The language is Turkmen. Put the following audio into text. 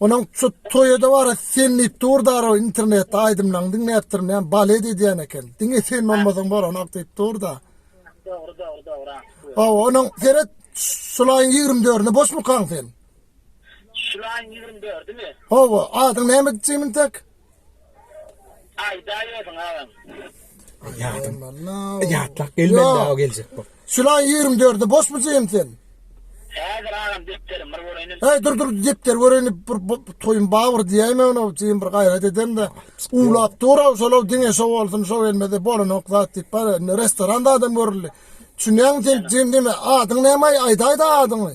Onuň şu toýada bara sen diýip dur daro internetde aýdymlaň diňläpdirin näme balet edýän eken. Diňe sen bolmasaň bolanok diýip dur da. Dogry dogry dogry aň şu. Hawa onuň seret şulaýyň 24-nde boşmukaň sen? Şulaýyň 24-dimi? Hawa adyň näme Jimin tak? Aýdaýbersin agam. Ýadyň. Ýatlap gelmedi dagy geljek bok. Şulaň 24-i boşmy jigim sen? Häzir agam depderim bir göreýin. Heý dur dur depder göreýin bir toýum bar bir diýäýme ony jigim bir gaýrat edemde. Uwlap dur aw şolaw diňe şo bolsun şo gelmedi bolanok zat diýip bar restoranda adam görüldi. Düşünýäňmi sen jigim diýme adyň näme aýdaýda adyňy.